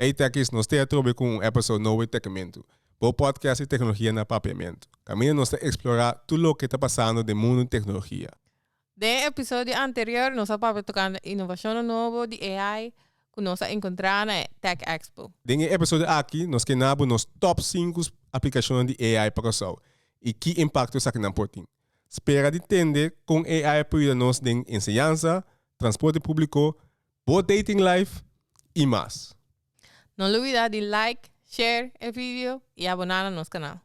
Hey Techies, nos te atrobe cu un episode nobo di Techimentu, bo podcast di tecnologia na Papiamento. Caminda nos ta explora tur loke ta pasando den mundo di tecnologia. Den e episodio anterior nos a papia tocando innovacionnan nobo di AI cu nos a encontra na e Tech Expo. Den e episodio aki nos ke nabo nos top sinku aplicacionnan di AI pa Curaçao y ki impacto esakinan por tin. Spera di tende con AI por yuda nos den enseñansa, transporte publico, Bo dating life y mas. No lubida di like, share e video y abona na nos canal.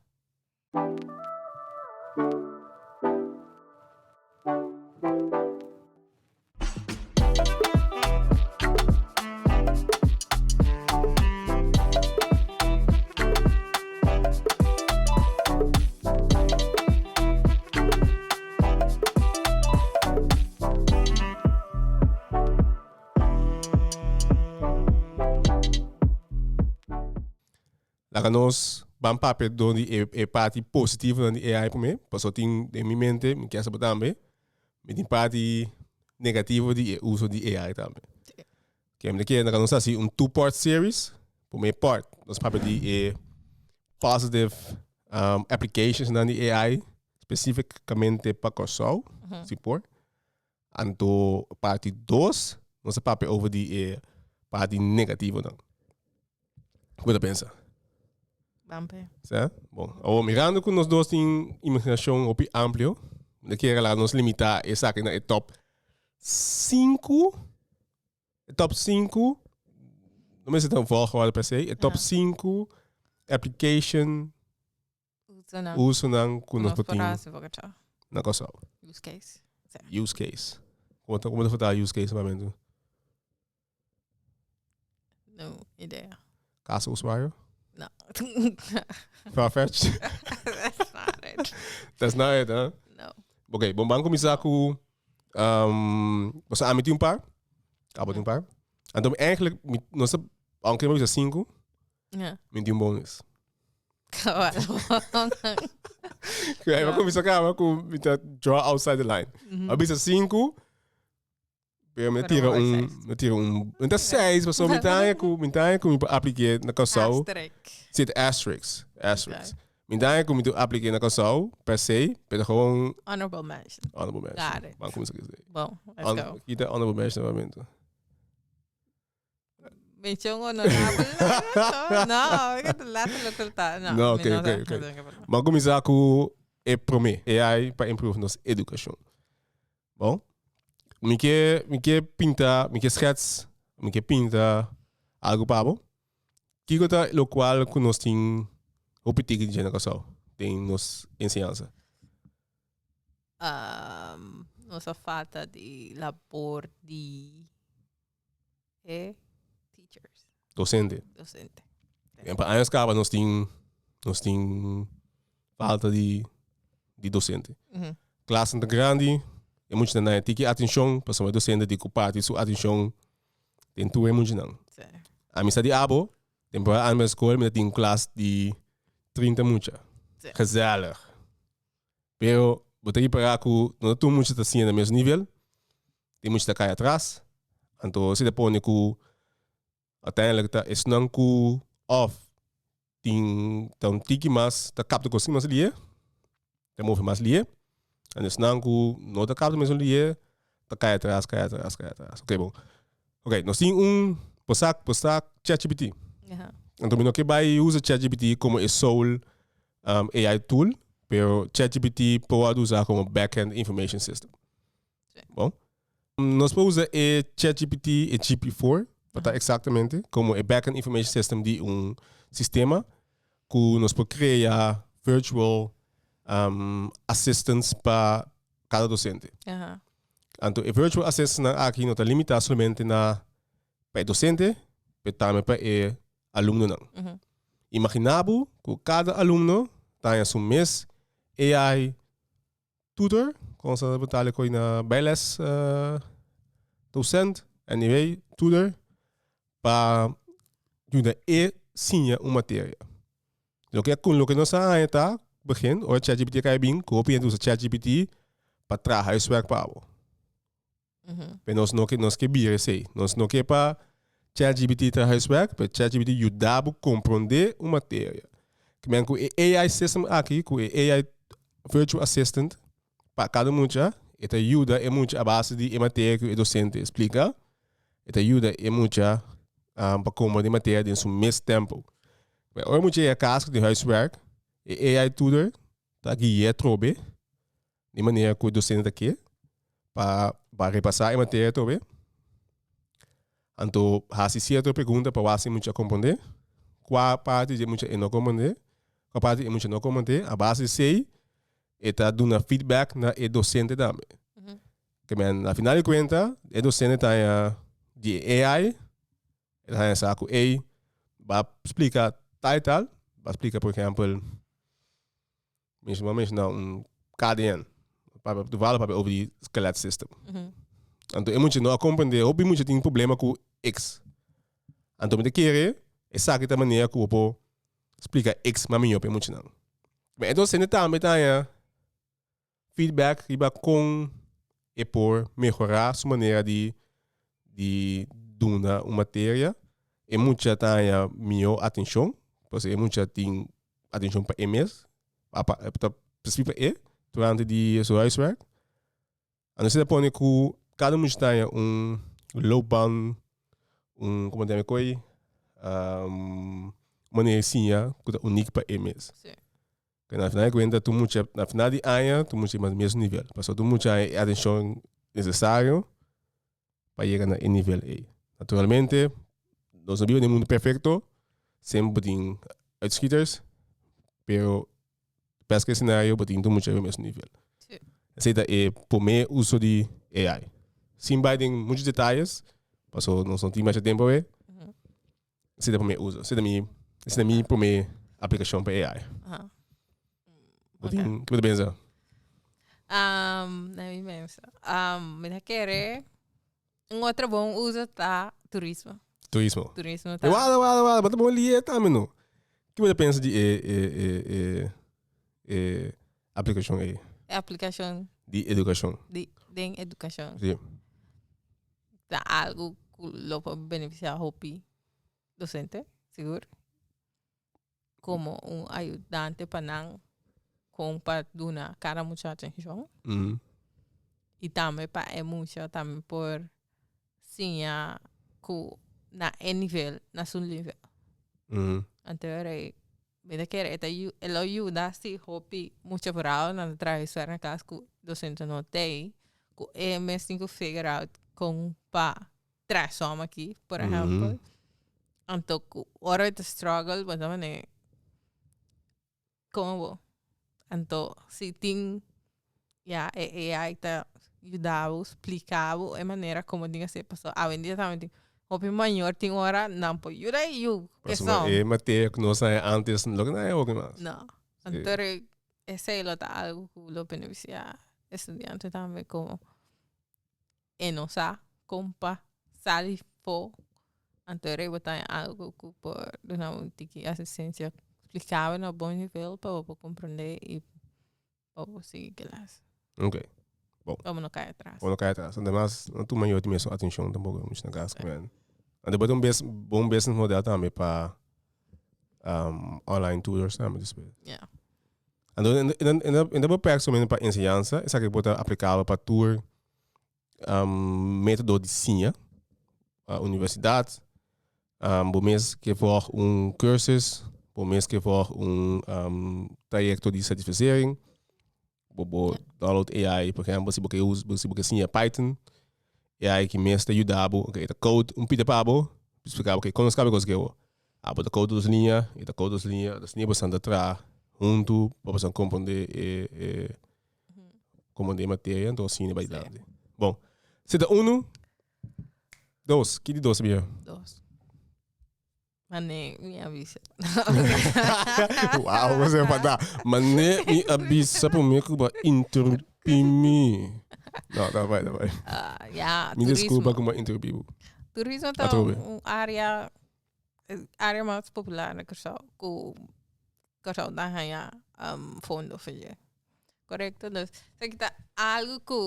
Laga nos ban papia dor di e, e parti positivonan di AI promé, paso tin den mi mente, mi kier sa bo tambe, mi tin parti negativo di e uso di AI tambe. Oke, mi ta kere nos hasi un two part series. Promé part, nos papia di e positive um, applications nan di AI, specificamente pa Kòrsou, si por. Anto parti dos, nos papia over di e parti negativo nan. Bo ta pensa? Ban pe. Sa? Bon, awor mirando cu nos dos tin imaginacion hopi amplio, no quiere la nos limita esaki na e top 5, e top 5, no me zit een volgorde per se, e top 5 application usonan ku nos por tin na Kòrsou. Use case. Use case. Kòmo ta kòmo ta furtá use case pa mentu? No idea. Kaso uswario? No. Farfetch? That's not it. That's not it, huh? No. Ok, bon ban kuminsá ku um, boso ami tin un par, Cabo tin un par. Anto mi eigenlijk, mi, nos ta, aunque mi bisa sinku, Ja. Mi tin bon is. Cabal. Cu ahí va a comenzar cama cu mi ta draw outside the line. A bisa cinco. Pero me Pero tira mooi un, seis. me tira un, me ta seis, paso mi ta haya cu, mi ta haya cu mi pa aplique na Curaçao. Asterisk. Zit asterisk, asterisk. Mi ta haya cu mi tu aplique na Curaçao, per se, pero gewoon Honorable mention. honorable mention. Got it. Van comenzar que is. Bon, let's Hon- go. Kita honorable mention nuevamente. Menshon onorabel no lata lo ke lo ta no no oke oke oke ma kuminsá ku e promé e ai pa improve nos edukashon bon mi ke mi ke pinta mi ke skèts mi ke pinta algu pa bo kiko ta lo kual ku nos tin hopi tiki dje na Kòrsou den nos enseñansa nos a falta di labor di e teachers. Docente. Docente. En pa años kaba nos tin nos tin falta di di docente. Mm -hmm. Klas ta grandi, e mucha na naye tiki atencion, paso e docente di ku parti su atencion den tur e mucha nan. Sí. A mi sa di abo, temporada aan bij de school, mi tin klas di 30 mucha. Sí. Gezellig. Pero bo ta ripará ku no ta tur mucha ta siña na mes nivel. Tin mucha ta kai atras. Anto esei ta pone ku uiteindelijk ta esnan ku òf tin ta un tiki mas ta kapta kos ki mas liye, ta move mas liye. An esnan ku no ta kapta mesun liye ta kai atras, kai atras, kai atras. Oke bon, oke nos tin un por sa por sa chatgpt. Anto mi no ke bai usa chatgpt komo e soul. AI tool, pero ChatGPT por a usa como backend information system. Sí. Bon. Nos por usa e ChatGPT, e GPT-4, wat ta exactamente como e backend information system di un sistema cu nos por crea virtual um, assistants pa cada docente. Aha. Anto e virtual assistants aki no ta limita solamente na pa e docente, pero tambe pa e alumnonan. Imaginá bo ku kada alumno ta haña su mes AI tutor, kon esnan ta punta likoi na bijles docent, anyway, tutor, pa yuda e siña un materia. Loke ku loke nos a haña ta, begin, ora chatgpt a kai bin, ku hopi hende usa chatgpt pa traha e swèk pa bo. Pe nos no ke nos ke bira esei. Nos no ke pa ChatGPT traha eswèk, pe ChatGPT yuda bo komprondé un materia. Kimin ku e AI system aki, ku e AI virtual assistant pa kada mucha, e ta yuda e mucha a base di e materia ku e dosente splika, e ta yuda e mucha um pa komprondé materia den su mes tempu. Ora e mucha yega kas ku tin huiswèk, e AI tutor ta gui'é trobe Di manera cu e docente ta kier pa pa repasa e materia atrobe, anto haci cierto pregunta pa wak si e mucha a comprende, cua parti dje mucha e no comprende, cua parti e mucha no comprende, a base di esey e ta duna feedback na e docente tambe. Te men na final di cuenta e docente ta haña di e AI, e ta haña sa cu ey ba splica tal y tal, ba splica por ejemplo, Mishi mami mishi na un KDN. Papi, toevallig papi over die skelet system. Anto e mucha no a comprende, hopi mucha tin problema ku X. Anto mi ta kere esaki ta manera ku bo por splika X mas mihó pa e muchanan. Entonces esente tambe ta haña feedback riba kon e por mehorá su manera di di duna un materia. E mucha ta haña mihó atenshon, pasobra e mucha tin atenshon pa e mes, apa e ta spesifiko pa e durante di su huiswerk. A no ser ta pone ku kada mucha ta haña un loopbaan, un komo nan e ko'i, manera di siña ku ta unik pa e mes. Pero na final di cuenta tur mucha na final di aña tur mucha mas mesmo nivel. Paso tur mucha hay atencion necesario pa yega na e nivel ey. Naturalmente nos no biba na e mundo perfecto semper por tin uitschieters pero best case scenario por tin tur mucha riba mesmo nivel. Esey ta e prome uso di AI. Sin bay den mucho detalles paso nos no tin masha tempo awe. Sida pa mi uso. Sida mi, sida mi prome aplicacion pa AI. Aha. Bo tin, kibo ta pensa? Um, let me pensa. Um, mi ta kere, un otro bon uso ta turismo. Turismo. Turismo ta. E wada, wada, wada, bo ta bon lie tambe no. Kibo ta pensa di e, e, e, e, e, Aplikashon ei. E aplikashon. Di edukashon. Di, den edukashon. Si. Ta algu ku lo por benefisiá hopi dosente, sigur. Komo un ayudante pa nan kon pa duna kada mucha atenshon. Mm. I tambe pa e mucha tambe por siña ku na e nivel, na su nivel. Mm. Anto rei Mi ta kere e ta yu e lo yuda si hopi mucha vrouwnan ta traha e suèr na kas ku dosento no tei ku e mes tin ku figer out kon pa traha sòm aki por ehèmpel anto ku ora bo ta struggle bo ta mane komo bo anto si tin. Ya e AI ta yudabo splikabo e manera komo tin hasi paso awendia tambe tin hopi mayor tin ora nan por yuda e yu keson. E materia ku nos hay antes lo ke nan hay hopi mas. No antor esei lo ta algo ku lo benefisia estudiante tambe komo e no sa kon pa sali fo anto rei bo tan algo ku por duna bo tiki asistencia splikabo na bon nivel pa bo por komprende i pa bo sigui kelas. Ok. Bon. Pa bo no kai atras. Pa bo no kai atras. Ante mas no tuma yo timestra atencion tampoco mucha na casa. Ante bo ta un bes bo un business model tambe pa um online tutors tambe ta spelen. Ya. Ando e ta bo perfecto solamente pa enseñansa esaki bo ta aplicabel pa tur um, método di siña, uh, universidad, um, bo mes ke volg un cursus, bo mes ke volg un um, trajecto di certificering, bo bo download AI, por ejemplo, si bo ke us, si bo ke siña Python, AI ki mes te yuda bo, ok, ta code un pide pa bo, explica bo, ok, kono skabe kos gewo? Ah, bo ta code dos liña, i ta code dos liña, dos liña bosan ta traha huntu, pa bosan komprende e, e, Como de materia, entonces cine bai dandi. Bon, seta uno, dos, ki di dos bia? Dos. Mane, mi avisa. wow, você vai dar. Mane, mi avisa por mim que vai interromper me. Não, tá vai, tá vai. Uh, yeah, me turismo. desculpa como interrompi. Turismo tá um área Es área mas popular na kòrsou ku kòrsou ta haña fondo for yɛ korekto entonces esaki ta algu ku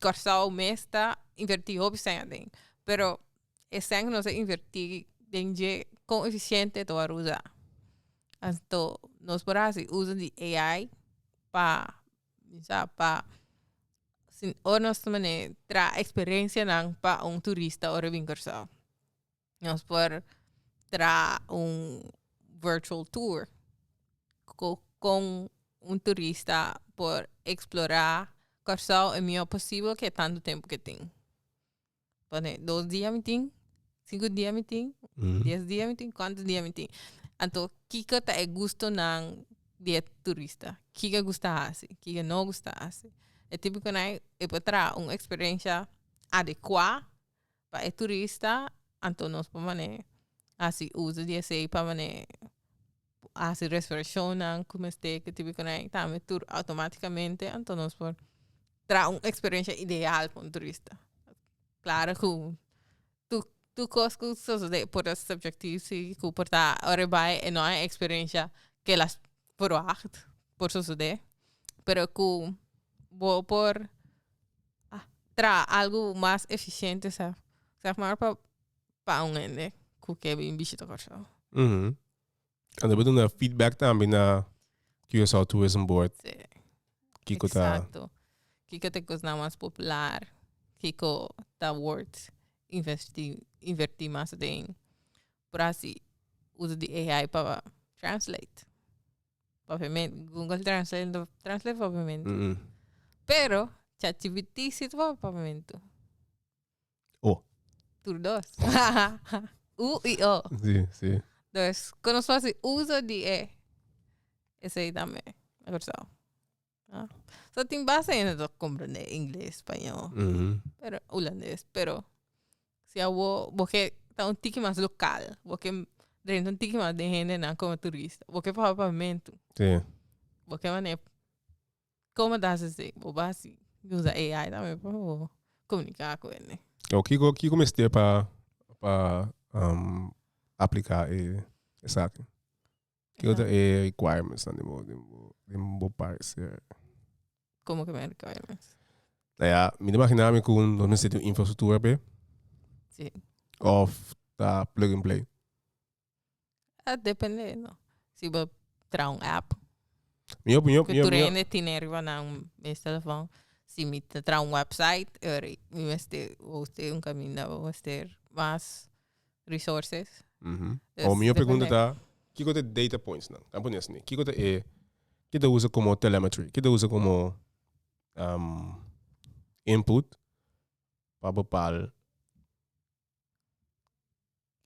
kòrsou mes ta invertí hopi esei aden pero e esei ku nos ta invertí den dje kon eficiente ta wòrdu uza anto nos por hasi uso di ai pa bisa pa si ora nos tra experencianan pa un turista ora e bini kòrsou. Nos por traha un virtual tour cu con un turista por explora Kòrsou e mihor posibel ku e tantu tempu ke tin pone dos dia mi tin sinku dia mi tin dies dia mi tin kuantu dia mi tin anto kiko ta e gusto nan di e turista kiko e gusta hasi kiko no gusta hasi e tipo konai e por traha un experiencia adecua. pa e turista anto nos por mane hasi uso di esey pa mane hasi reservacionnan cu mester cu tipo cosnan y tambe tur automaticamente anto nos por traha un experiencia ideal pa un turista claro cu tu tu cos cu sosode por ta subjetivo si cu por ta ora e bay e no hay experiencia kela verwacht por sosode pero cu bo por a traha algu mas efisiente sa sef mor pa pa un hende ku ke bin bishita Kòrsou. Mhm. Anto bo duna feedback tambe na Curaçao Tourism Board. Sí. Kiko ta Exacto. Kiko ta e kosnan mas popular, kiko ta wòrd investí invertí mas den. por hasi uso di AI pa translate papiamento google translate no ta translate papiamento pero chat gpt si ta wak papiamento o tur dos u y o dus con nos fasi uso di e esey tambe na cursao. Ah. So tin basta hende ta comprende ingles, spañol, Ujú. pero hulandes, pero si a bo bo ke ta un tiki mas local, bo ke drenta un tiki mas den hendenan como turista, bo ke papaya pa mentu, Sí. bo ke manera como ta haci esei, bo a haci usa AI tambe pa bo comunica cu hende. Oh, kiko kiko mester pa pa um aplica e esaki? Ki otro e requirements nan den bo den bo den bo parecer? Como que mi requirements? Nou ja, mi ta imagina mi ku nos mester tin un infrastruktura pe Sí. of ta plug and play. Ah, depende, no. Si bo traha un app, Mi op mi op ku mi op. tur mi op. hende tine riba na mes telefòn. Si mi ta traha un website, mi mester hosten un kaminda bo mester mas resources. Dus Awor mi yo pregunta depende. ta, kiko ta e data points nan? Nan pone asina, kiko ta e, ke ta usa como telemetry, ke ta usa como am, input pa bepal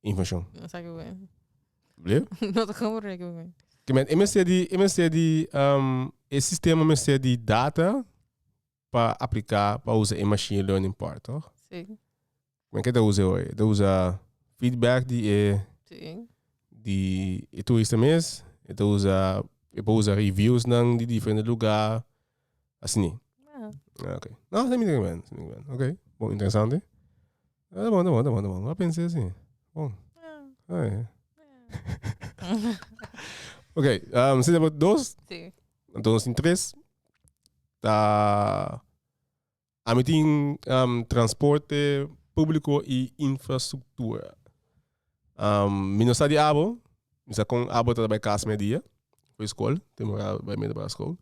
informacion? No sa kico es. Bleo? No sa como reken kico es. Ke men, e mester di, e mester di, am, e sistema mester di data pa aplica pa usa e machine learning part toch? Sí. Men que te usa hoy, te usa feedback di e sí. di e turista mes, te usa e pa usa reviews nan di diferente lugar, así ni. Yeah. Ah, okay. No, se mi te ben, se mi te ben. Okay, bon interesante. Ah, tá bom, tá bom, tá bom, tá bom. Lá pensei assim. Bom. Ah, é. ok, um, você tem dois? Sim. Anto nos tin tres. Ta ami tin um, transporte publico y infrastructura. Um, mi no sa di abo, mi sa con abo ta bai casa mei dia, for escol, te mora bai middelbare school.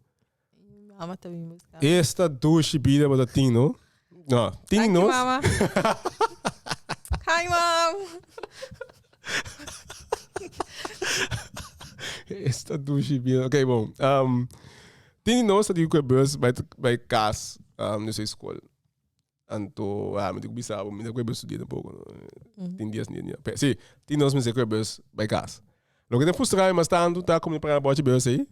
Mi mama ta bin busca. Esta dushi bida bo ta tin no. No, tin Danki, nos. mama. Hi, mom. Esta douche bien. Ok, bom. Um, tin nos dat ik bus bij bij kas um, dus school. Anto, ah, moet ik bisa, maar ik bus studeren poco. no. Tin dies niet. Ja. Pe- Sí, tin nos mensen ik bus bij kas. Lo que te frustra je mas tanto, ta como je para botje bus ahí.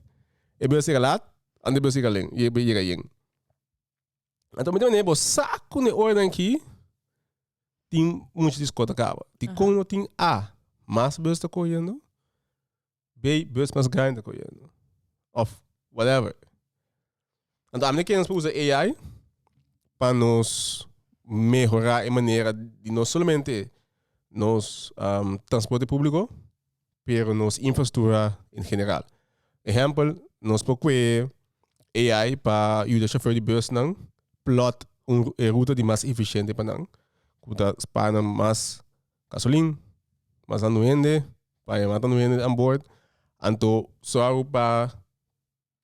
E bus llega laat, en de bus llega len. Je je llega yen. Anto mi ta mende bo sa ku ne ora nan ki tin mucha di skota kaba. Di kon no tin A, mas bus ta koyendo. B, bus mas grande ta koyendo. Of whatever. Anto ami no ken nos pa usa AI pa nos mehora e manera di no solamente nos um transporte publico. pero nos infrastruktura in general. Ehempel, nos por kue AI pa yuda shofèr di busnan plòt un e ruta di mas efisiente pa nan, ku ta spara nan mas gasolin, mas andu hende, pa e mata andu hende anbord. Anto sòru pa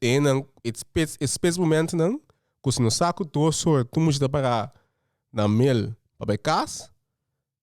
e nan e spits e spits momentnan ku si no sa ku tur sòrt tur mucha ta pará na mil pa bai kas,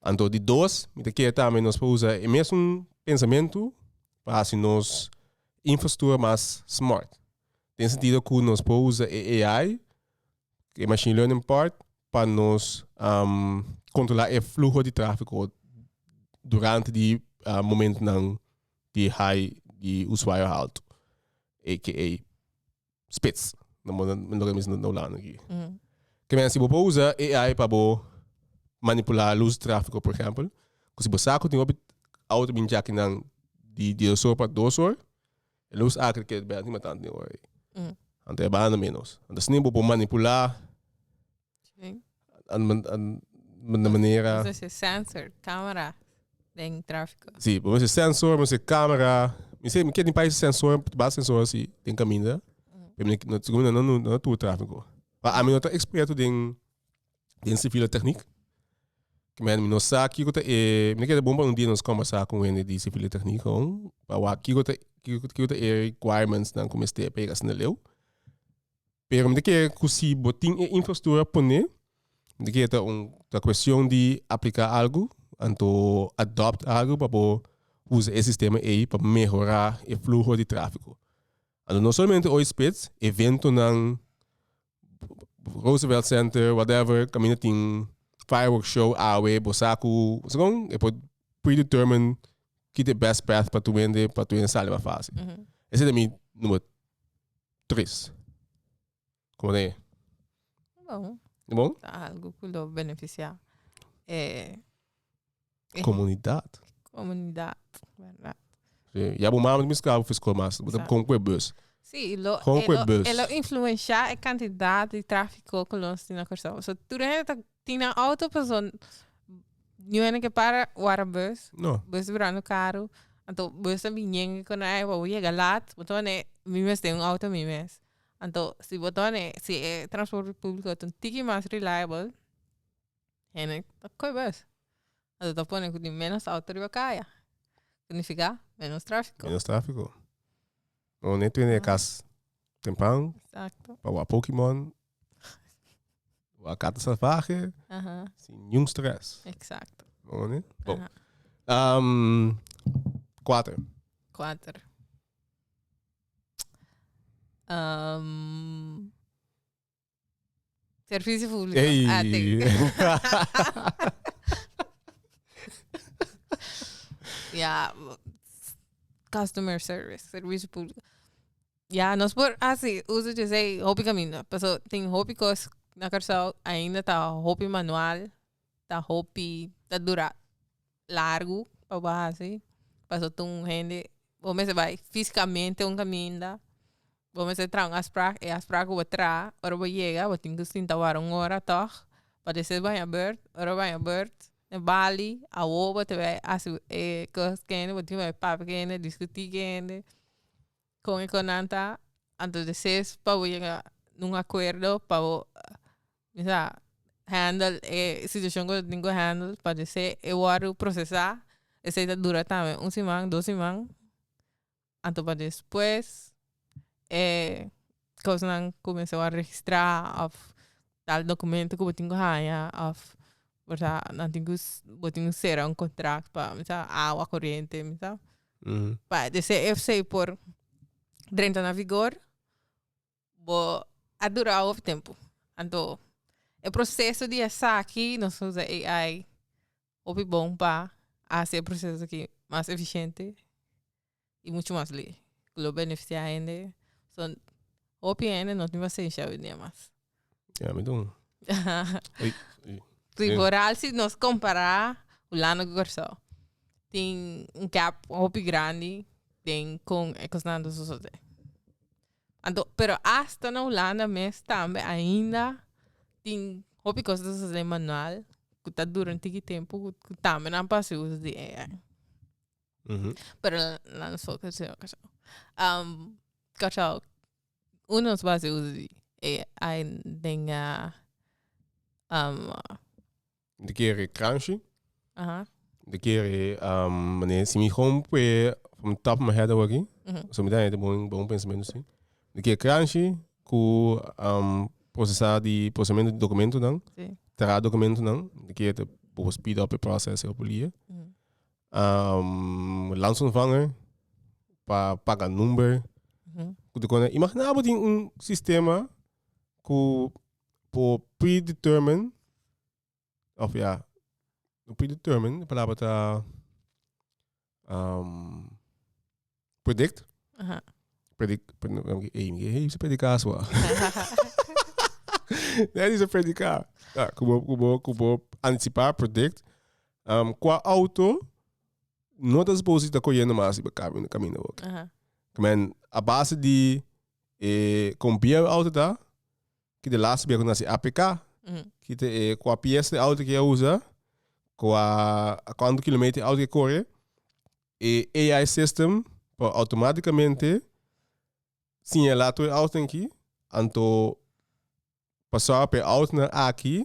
Anto di dos, mi ta kere tambe nos por usa e mesun pensamentu pa hasi nos infrastuctura mas smart. Den sentido cu nos por usa e AI, e machine learning part, pa nos controla e fluho di trafico durante di momentonan di high, di usuario halto, aka. spits. No mo no que mis no lano aquí. Que men si bo po usa AI pa bo manipular luz tráfico, por ejemplo, que si bo saco tin opit auto bin jaki nan di di dos pa dos hor, el luz acre que ben ni matan ni hor. Ante banda menos. Ante snin bo po manipular Sí. An, an, an, de manera... Vamos a sensor, camera, den tráfico. Sí, vamos a sensor, vamos a camera. Mi sé, mi quiero un país sensor, va sensor así, den caminda. Pero mi no, no, no, no, no tuvo tráfico. Pero a mí no está experto den, den civil técnico. Que me no sa kiko te e, mi quiero bomba un día nos conversar con gente de civil técnico. Pa wa kiko te, kiko te e requirements nan como este, pa llegar a sneleu. Pero mi ta kere cu si bo tin e infrastructura pone, mi ta kere ta un ta cuestion di aplica algo anto adopt algo pa bo usa e sistema ey pa mehora e fluho di trafico. Anto no solamente oy spits, eventonan, Roosevelt Center, whatever, caminda tin firework show awe, bo sa cu segun e por predetermine ki ta e best path pa tur hende pa tur hende sali mas facil. Esey ta mi number Tris. Como ta e? Bon. E bon? Ta algo cu lo beneficia e, e Comunidad. comunidad, ¿verdad? Sí. Ya bo mami mis cabo fiscal mas. Bo Exacto. con que bus. Sí, lo, Gewoon e, kwe lo, bus. e lo influencia e cantidad di tráfico que los tin na Curaçao. So, tur hende ta Tin nan auto paso New Año ke para wara bus. No. Bus brando karu. Anto bus ta biñen ku nan ei bo bo yega lat bo ta mane mi mes den un auto mi mes. Anto si bo ta mane si e transporte publico ta un tiki mas reliable hende ta koe bus. Anto ta pone ku tin menos auto riba kaya. Significa menos trafiko. Menos trafiko. Bo no e tende e kas temprano. Exacto. Pa wak poki mon Wakata salvahe, sin niun stres. Exacto. Bon. Um, kuater. Kuater. Um, servicio publico. Ey. Ah, ya, customer service, servicio publico. Ya nos por hasi uso di esei hopi caminda pasobra tin hopi cos na Carusao ainda ta hopi manual ta hopi ta dura largu pa bo hasi pasobra tin un hende bo mester bay fisicamente un caminda bo mester traha un afspraak e afspraak ku bo traha ora bo yega bo tin ki sinta wara un ora tog pa de ser baya beurt ora baya beurt na bali awo bo ta bay hasi e cos kende bo tin ki bay papia kende discuti kende. Con e con nan ta anto de ses pa bo yega un acuerdo pa bo bisa handle e situacion cu bo tin cu handle pa de se e worde procesa esey ta dura tambe un siman dos siman anto pa despues cosnan cu men sa wou a registra of tal documento cu bo tin cu haya of versa nan tin cu bo tin cu cera un contract pa me sa awa corriente me sa pa de esey de esey por drenta na vigor bo a dura hopi tempo anto e proceso di esaki nos usa AI hopi bon pa haci e proceso aki mas eficiente. y mucho mas ley cu lo beneficia hende so hopi hende no tin pacencia avenida mas. Ya mi dun. Ri boral si nos compara hulanda cu Curaao tin un gap hopi grandi den con e cosnan ta sosode anto pero asta na hulanda mes tambe ainda tin hopi cos ta sosode manual cu ta dura un tiki tempo cu tambe nan pasio uso di AI. Uhuh. Pero nan so ke se kashau. Am kashau uno so base usa di e ai den a am Di kere crunchy, aha di kere am mane si mi home pue from top of my head awaki, uhuh. so mi ta hete bon bon pensamentu si. Di ke crunchy ku am procesa di procesamento di documentonan, Si. traha documentonan di kere te bobo speed up e process e hopi lie. Uhuh. lansa un vanger pa paga number ku ta kona imagina bo tin un sistema ku por predetermine of ya predetermine e palabra ta Predict? Aha. Predict, ey, mi hey, se predica asua. Nadie dice predica. Ah, kubo, kubo, kubo, anticipa, predict. Um, qua auto, no te supposed te cogiendo más iba camino, camino. Okay. Aha. Men, a base di, eh, con bia auto ta, ki de laatste bia con nasi APK, Mm. ki te, eh, qua pies de auto ki a usa, qua, a quanto kilometer auto ki corre, E AI system por automáticamente señalá tur e autonan aki, anto pa sòru pa e autonan aki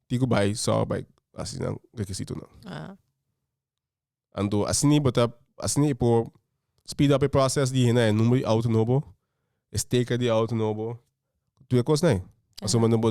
tin ku bai sòru pa e asina rekisitonan. Ah. Anto asina bo ta asina i por speed up e process di hina e number di auto nobo, e sticker di auto nobo, tur e kosnan. Pasobra no bo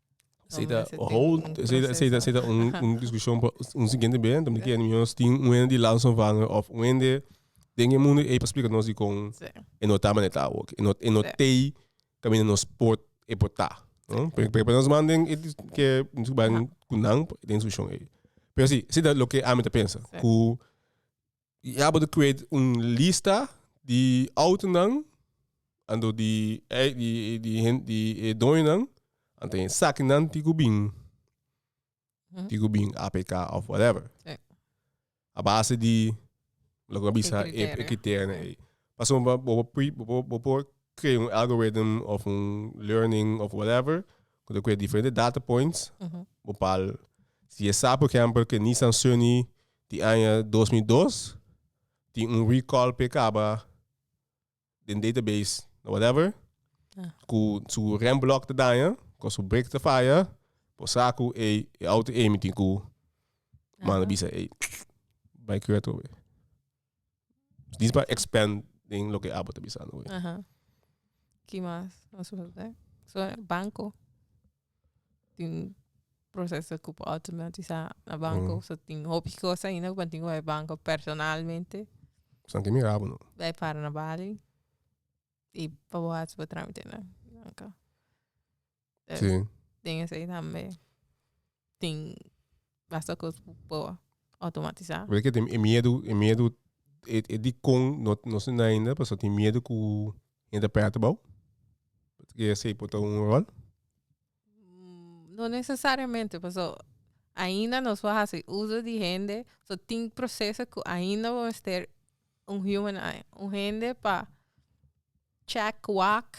Sei ta hold, sei ta sei ta sei ta un un discussión pa un siguiente band, om que nos tin un ende di Lanson van of un ende den e mundo e pa explica nos di con Sí. e no ta maneta ook. E no e no Sí. tei camina nos pot e pot ta. No? Pe pe pe nos man den e dis- que nos ban cu nan den discussión ei. Pero si, si ta lo que ami ta pensa cu Y abo ta create un lista di autonan ando di ei di di hen di e doñonan a ten sakinan ti ku bin ti ku bin APK of whatever Sí. a base di loke a bisa e criterio. criterionan ei paso bo bo bo pui bo bo bo por crea un algorithm of un learning of whatever ku ta create diferente data points bo pal si e sa por ehempel ke Nissan Sunny Di aña dos mil dos tin un recall p'e kaba den database na whatever ku su rem block ta daña ku su brake ta faya por sa ku ey e auto ey mi tin ku manda bisa ey bai kura atrobe. Dis pa expand den lo ke abo ta bisando hoy. Aha. Ki mas nos por hasi? So, banko tin proseso ku por automatisá na banko. So tin hopi kos ainda ku bo tin ku bai banko personalmente. San ke mira abo no. Bai para na Bali i pa bo hasi bo trámitenan. Pues, Sí. den esei tambe tin basta cos cu por automatizar. Weet que tem e miedo, e miedo, e, e di con no, no se na ainda, paso tem miedo cu gente a prata bou. Weet que ese pota un rol. Mm, No necesariamente, paso ainda nos por haci uso di hende. So, tin proceso cu ainda bo mester un human eye, un hende pa check, wak.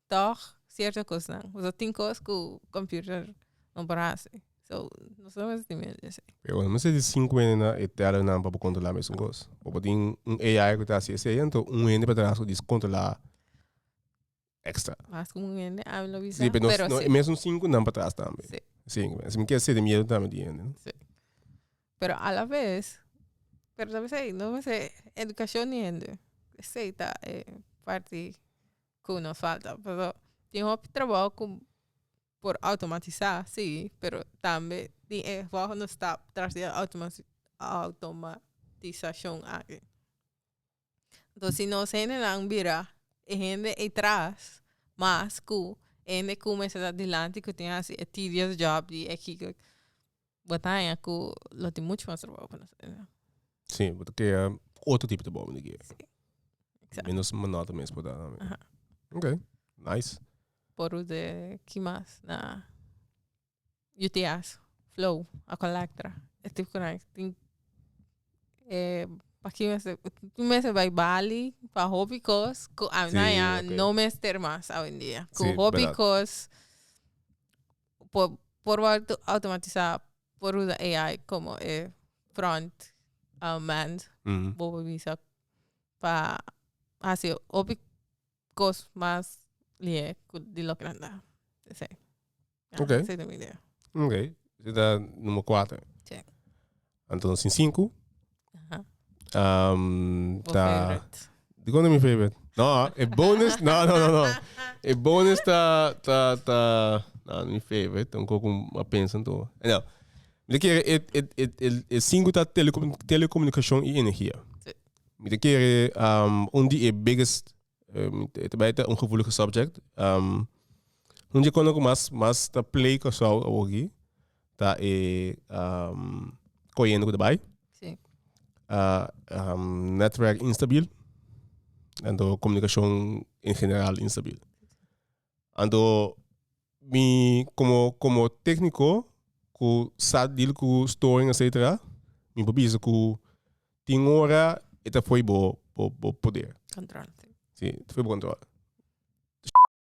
Tog cierto cosnan pasobra tin cos cu computer no por haci so nos no mester tin miedo di esey. Pero cuando men seti cinco hende na e terranan pa bo controla mesun cos abo tin un AI cu ta haci esey ento un hende por atrás cu diz controla extra Mas como un hende ami lo bisa si pero nos pero si mesun cinco nan pa tras tambe si si así mi kier seti miedo tambe di hende si pero a la vez pero tambe esey no mester educacion di hende esey ta e parti cu no falta pero tin hopi trabajo cu por automatisa si pero tambe tin e volgende stap tras di automa-automatisashon aki enton si nos hendenan bira e hende ey tras mas cu e hende cu mester ta dilanti cu tin hasi e tedious job di e bo ta haña ku lo tin muchu mas trabou pa nos mester. Sí, bo ta krea otro tipo di trabou den dje. Sí. Exacto. Menos monótono mes por ta. Aha. Ok, nice. Por u de ki mas na UTA's, Flow, Akolectra, e tip kurai tin e paki mester tin mester bai Bali pa hopi kos ku a Sí, na ya ok. no mester mas awendia. Ku Sí, hopi verdad. kos por por wòrdu outomatisá por uza AI komo e prònt man bo por bisa pa hasi hopi kos mas lihé di loke nan dal esei. Esei ta mi idea. Ok, esei ta numero kuater. Anto nos tin sinku. Aha. Um, Bo ta... favorite. Di kon mi favorite? No, e bonus, no, no, no, no. E bonus ta, ta, ta, no, mi favorite, un koko ma pensa to. No. Mi te kere, e, e, e, e, e sinku ta telecomu- telecomunicacion i energia. Sí. Mi te kere, um, un di e biggest, um, te bai ta un gevoelige subject. Um, un di kon ku mas, mas ta play Koursou awoki. ta e coyendo cu ta bay. Sí. netwerk instabil. Anto comunicacion en general instabil. Anto mi como como tecnico cu sa deal cu storing etcetera mi por bisa cu tin ora e ta fo'i bo bo bo poder. Control. Sí, ta fo'i bo control.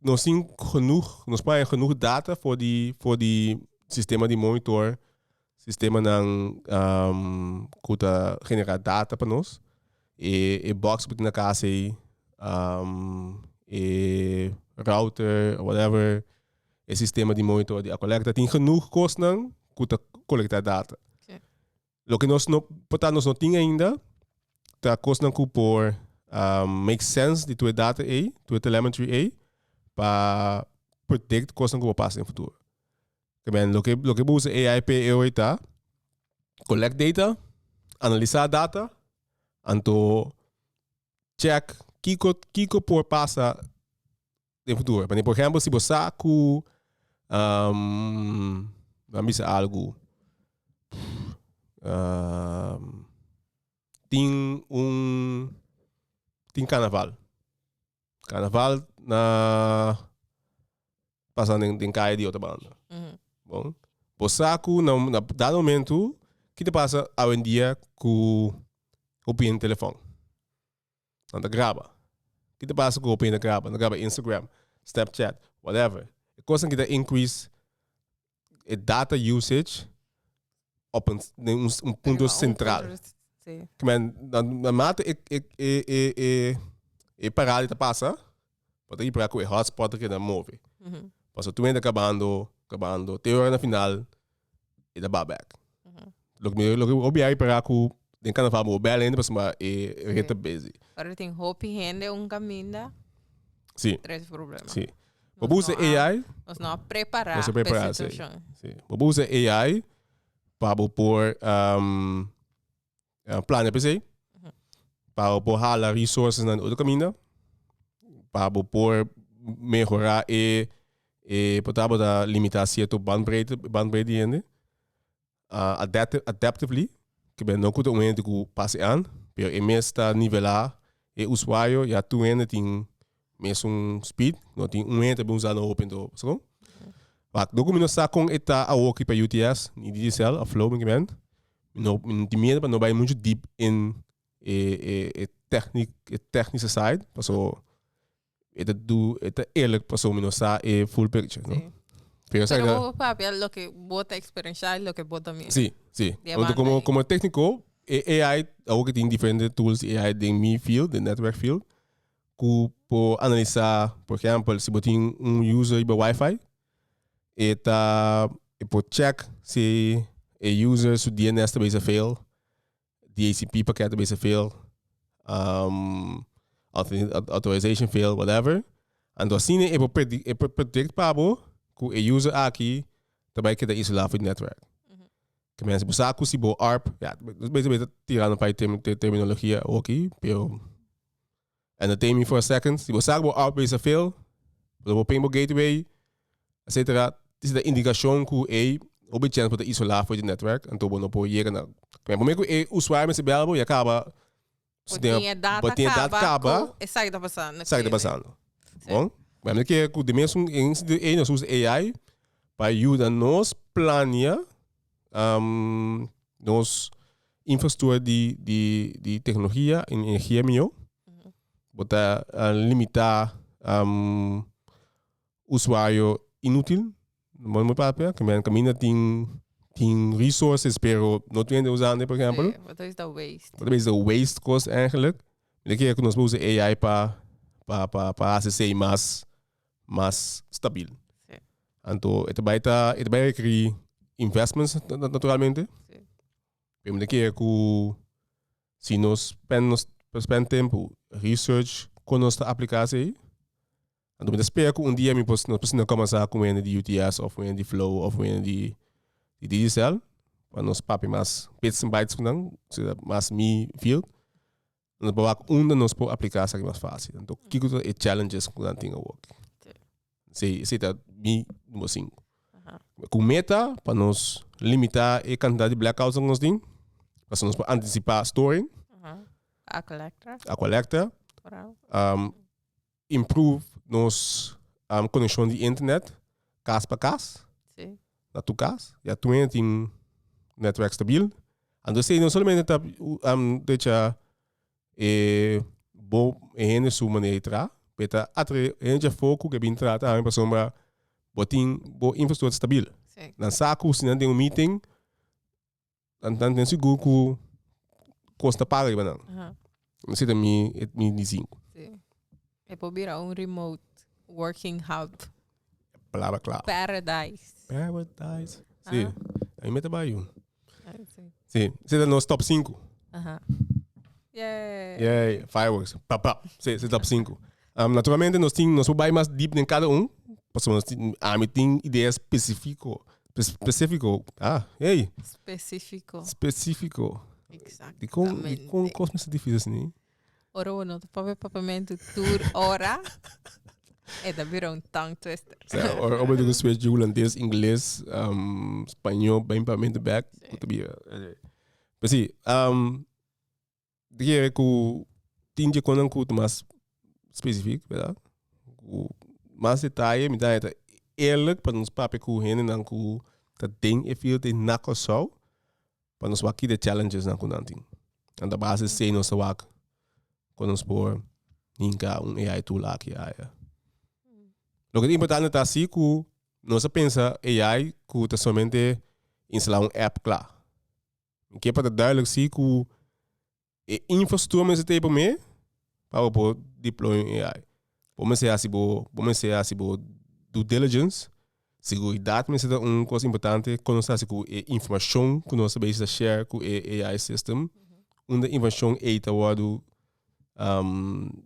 nos tin genoeg, nos pa hay genoeg data voor die, voor die sistema di monitor, sistema nan um, kuta genera data pa nos. E, e box butin na casa ei, um, e router, whatever, e sistema di monitor di Acolecta, tin genoeg kosnan kuta colecta data. Lo que nos no, por ta nos no tin ainda, ta cosnan cu por uh, make sense di tue data ei, tue telemetry ei, pa predict cosnan cu va pasa in futuro. Que ben, lo que, lo que usa AI pe eoi ta, collect data, analisa data, anto check kiko, kiko por pasa den futuro. E manera, por ehempel, si bo sa cu, um, lo a bisa algo, um, tin un, tin carnaval. Carnaval na pasa den, den caye di otra banda. Bon. Bo sa cu na, na dado momento, ki ta pasa awendia cu hopi hende telefon? Nan ta graba. Ki ta pasa ku hopi hende graba? Nan ta graba Instagram, Snapchat, whatever. E kosnan ki ta increase e data usage op un den un un punto sentral. Kmen, na, na mate e, e, e, e, e, e parada di ta pasa, pa ta yipra ku e hotspot ta keda move. Paso tu menta kabando, kabando, te ora na final e ta ba back. Loke mi loke obi a yipra ku den kanaval bo bel hende pasobra e ret ta busy. Ora tin hopi hende un kaminda, Si, tres problema. si. Bo por usa AI, Nos no a prepará nos a pa e prepara esei. situashon. Si. Bo por usa AI pa bo por, am, eh, plania per se. Pa bo por hala resources na otro caminda. Pa bo por mejora e, e por ta bo ta limita cierto bandbreedte, bandbreedte di hende. Uh, adaptive, adaptively, que ben no kuta un hende ku pase an, pero e mes ta nivela e usuario, ya tu hende tin Mesun speed, no tin un hende bin usa no hopi anto, paskon? Wak, do ku mi no sa kon e ta awoki pa UTS, ni digicel of flow, mi ke men, mi no, mi no tin miedu pa no bai muchu deep in e, e, e tèkni, e tèknische side, paso e ta du, e ta eerlijk, paso mi no sa e full picture, no? Si. Pero sa Pero ke, bo papia loke bo ta eksperenshá i loke bo ta mira. si, si. Di e Huntu banda komo, ei. komo tékniko, e AI, awoki tin diferente tools di AI den mi field, den network field, ku por analisá, por ehèmpel si bo tin un user riba wifi, e ta e por chèk si e user su DNS ta bisa fail, DHCP pakèt ta bisa fail, authorization fail, whatever, anto asina e por predi e por predict pa bo ku e user aki ta bai keda isolá for e network. Ta mester bo sa ku si bo arp, ya nos mester tirando un par di terminologia oki, pero Entertain me for a second. Si bo sa ku bo outpace a fail, lo bo ping bo gateway, etcetera. Tisi ta indikashon ku ey hopi chèns bo ta isolá for di netwerk, anto bo no por yega na kmen. Promé ku e usuario mester bèl bo, ya kaba si tin e data kaba kaba ku esaki ta pasando esaki ta pasando. Bon, kmen mi kere ku di mesun en un sentido ey nos usa AI pa yuda nos plania. Nos infrastructura di di di tecnologia y energia mijo bo ta limita um usuario inutil bo no papia kimen caminda tin tin resources pero no tin hende usando por ejemplo. Bo ta bisa waste. Bo ta bisa waste cos eigenlic. Bo ta kere cu nos ta usa AI pa pa pa pa haci esey mas. mas stabil. Sí. Anto e ta bai ta e ta bai requerí investments naturalmente. Sí. Pero mi ta quiere cu si nos spend nos spend tempo research con nos ta aplica sei anto mi ta spera cu un dia mi por nos por sinan comenzá cu un hende di UTS of un hende di flow of un hende di di digicel pa nos papia mas bits and bytes cu nan zodat mas mi field Nos por wak unda nos por aplica esaki mas fácil. Anto, kiko ta e challenges cu nan tin awoki? Esei, esei ta mi numero sinku. Cu meta pa nos limita e cantidad di blackouts cu nos tin, pasobra nos por anticipa storing, Aqua Lectra, aqua lecta, Coral. um, improve nos um, conexon di internet cas pa cas, sí. na tu cas, ya tu hende tin netwerk stabiel. Anto sei, no solamente ta um, decha eh, bo e hende su maneira di tra, peta atre hende foku ke bin tra ta pa sombra bo tin bo infrastructura stabiel. Sí. Dan saku si nan den un meeting, Nan nan ten sigur cu cos ta paga riba nan. Aha. No seta mi e mi di cinco. Sí. E por bira un remote working hub. Palabra clave. Paradise. Paradise. Sí. Ah. Ahí me te va yo. Ay, sí. Sí. Seta nos top 5. Aha. Yay. Yay, fireworks. Pa pa. Sí, seta top 5. Naturalmente nos tin nos por bai mas deep den cada un pasobra nos tin ami tin idea specifico specifico ah hey Specifico. specifico Exactamente. di con di con cos mester difici asini Ora bo no ta papia papamento tur ora e ta bira un tongue twister. o sea ora ora bo tin cu switch di hulandes ingles um spaño bai papamento back cu ta bira anyway pero si. Di kere ku tin dje konnan ku ta mas spesifik, berdad? Ku mas detaye mi dai ta eerlik pa nos papia ku hendenan ku ta den e field ei na Kòrsou pa nos wak kida challengesnan ku nan tin. Nan ta base esei nos ta wak kon nos por hinka un AI tool aki a aya. Loke ta importante ta si ku nos a pensa AI ku ta solamente instala un app kla. Mi ke pa ta duidelijk si ku e infrastruktur mester ta e promé pa bo por deploy un AI. Bo mester hasi bo, bo mester hasi bo due diligence. Seguridat mester ta un kos importante, kon nos ta hasi ku e informashon ku nos ta beishi ta share ku e AI system, unda e informashon ei ta wòrdu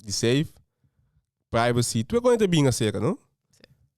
di save, privacy, tur e kosnan ta bin aserka, no?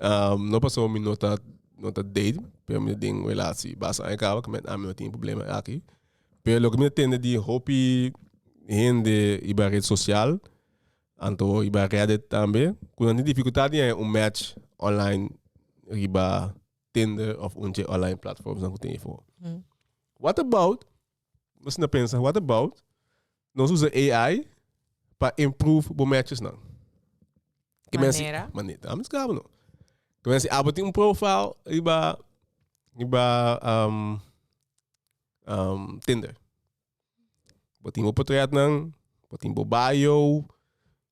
Um, no pasó mi no ta no ta date, pero mi den un relatie basta aña cabo que met ami no tin problema aki. Pero lo que mi tende di hopi hende iba red social, anto iba Reddit tambe, cu nan tin dificultad di aña un match online riba Tinder of un che online platforms nan cu tin efo. What about Nos na pensa, what about nos usa AI pa improve bo matches nan? Que manera? Manera. Ah, mis cabo no. Que mensen abo tin un profile iba iba um, um, Tinder. Bo tin bo portret nan, bo tin bo bio,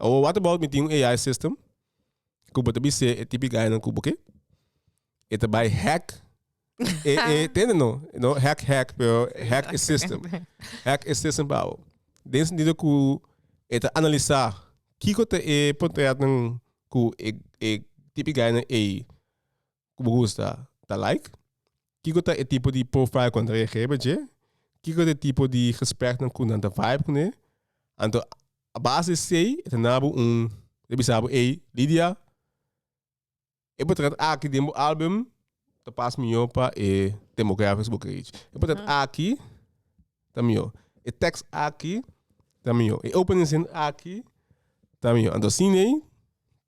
Awor what about mi tin un AI system cu bo ta bis'e e tipi gainan cu bo ke e ta bai hack e e tende no no hack hack pero hack e system hack e system pa bo den sentido cu e ta analisa kiko ta e portretnan cu e e tipi gainan ei ku bo gusta ta like? Kiko ta e tipo di profile ku nan ta reageerba dje? Kiko ta e tipo di gespreknan ku nan ta vibe kuné? Anto a base di esei e ta nabo un e bisa bo ey Lidia e potret aki den bo album ta pas mihó pa e demographics ku bo kere reach. E potret aki ta mihó, e tekst aki ta mihó, e openingszin aki ta mihó. Anto sin ey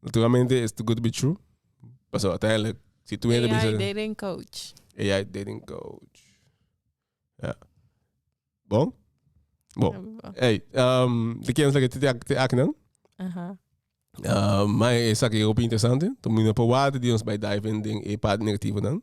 Naturalmente it's too good to be true. Paso uiteindelijk, si tu hende AI bisa... dating coach. AI dating coach. Ja. Bon? Bon. Ja, bon. Hey, um, de kennis dat ik te ak- te aknan. Aha. Uh, maar is ook heel interessant. Toen moet je proeven die ons bij dive in ding e part negativo dan.